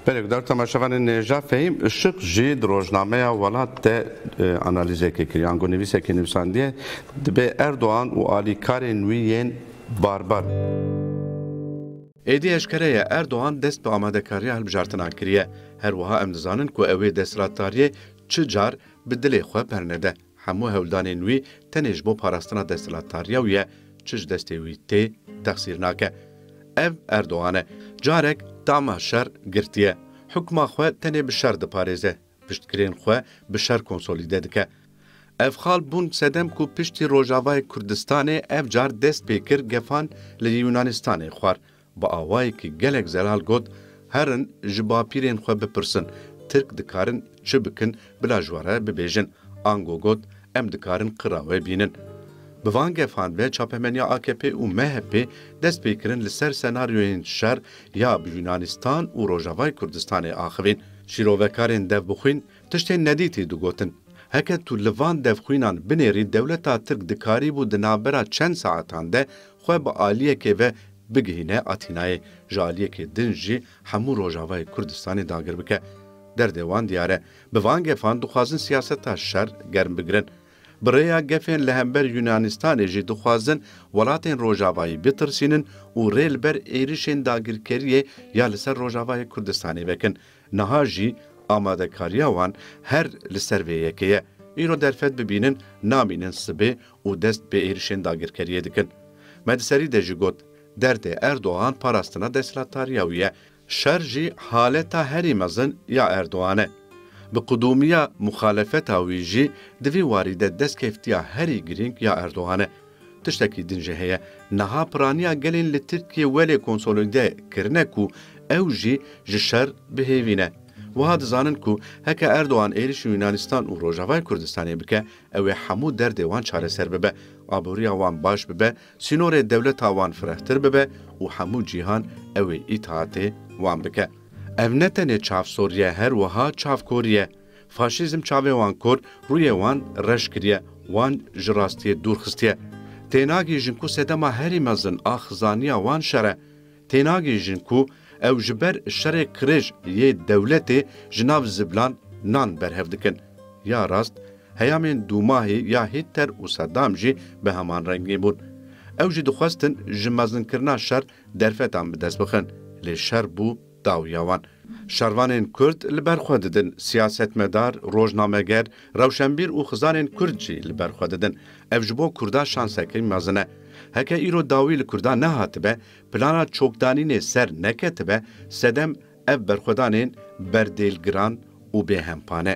Perukdar Temaşevanê Nêja Fehîm Işık jî di rojnameya Welat de analîzekê kiriye. Ango nivîsekê nivîsandiye, Dibê Erdogan û alîkarên wî yên barbar. Êdî eşkere ye Erdogan dest bi amadekariya hilbijartinan kiriye. Her wiha em dizanin ku ew ê desthilatdariyê çi car bi dilê xwe bernede. Hemû hewldanên wî tenê ji bo parastina desthilatdariya wî ye, çi ji destê wî tê, texsîr nake. Ev Erdogan e. Carek tama şer girtiye. Hukma xwe tenê bi şer diparêze, piştgirên xwe bi şer konsolîde dike. Ev xal bûn sedem ku piştî Rojavayê Kurdistanê ev car dest pê kir gefan li Yûnanistanê xwar, Bi awayekî gelek zelal got, Herin ji bapîrên xwe bipirsin, Tirk dikarin çi bikin bila ji we re bibêjin. Ango got, Em dikarin qira we bînin. Bi van gefan ve çapemeniya akp û MHPê dest pê kirin li ser senaryoyên şer ya bi Yûnanîstan û Rojavayê Kurdistanê axivîn. Şîrovekarên devbixwîn tiştên nedîtî digotin. Heke tu li van devxwînan binêrî dewleta Tirk dikarîbû di navbera çend saetan de xwe bi aliyekê ve bigihîne Atînayê, ji aliyekê din jî hemû Rojavayê Kurdistanê dagir bike. Derdê wan diyar e. Bi van gefan dixwazin siyaseta şer germ bigirin. Bi rêya gefên li hember Yûnanîstanê jî dixwazin welatên Rojavayî bitirsînin û rê li ber êrişên dagirkeriyê ya li ser Rojavayê Kurdistanê vekin. Niha jî amadekariya wan her li ser vê yekê ye. Îro derfet bibînin namînin sibê û dest bi êrişên dagirkeriyê dikin. Me di serî de jî got, derdê Erdogan parastina desthilatdariya wî ye. Şer jî haleta herî mezin ya Erdogan e. Bi qudûmiya muxalefeta wî jî di vî warî de destkeftiya herî girîng ya Erdogan e. Tiştekî din jî heye, niha piraniya gelên li Tirkiyê welê konsolîde kirine ku ew jî ji şer bihêvîne. Wiha dizanin ku heke Erdogan êrîşî Yûnanîstan û Rojavayê Kurdistanê bike, ew ê hemû derdê wan çareser bibe, aboriya wan baş bibe, sînorê dewleta wan firehtir bibe û hemû cîhan ew ê îtaatê wan bike. Ev ne tenê çavsoriye, her wiha çavkoriye. Faşîzm çavê wan kor, rûyê wan reş kiriye, wan ji rastiyê dûr xistiye. Tênagihîjin ku sedema herî mezin a xizaniya wan şer e. Tênagihîjin ku ew ji ber şerê qirêj yê dewletê ji nav zivilan nan berhev dikin. Ya rast, heyamên Dûmahî ya Hîtler û Sedam jî bi heman rengî bûn. Ew jî dixwestin ji mezinkirina şer derfetan bi dest bixin. Lê şer bû Dawiya wan, şervanên Kurd li ber xwe didin, siyasetmedar, rojnameger, rewşenbîr û xizanên Kurd jî li ber xwe didin. Ev ji bo Kurda şansekî mezin e. Heke îro dawî li Kurdan nehatibe, plana çokdanînê ser neketibe sedem ev berxwedanên berdêlgiran û bêhempa ne.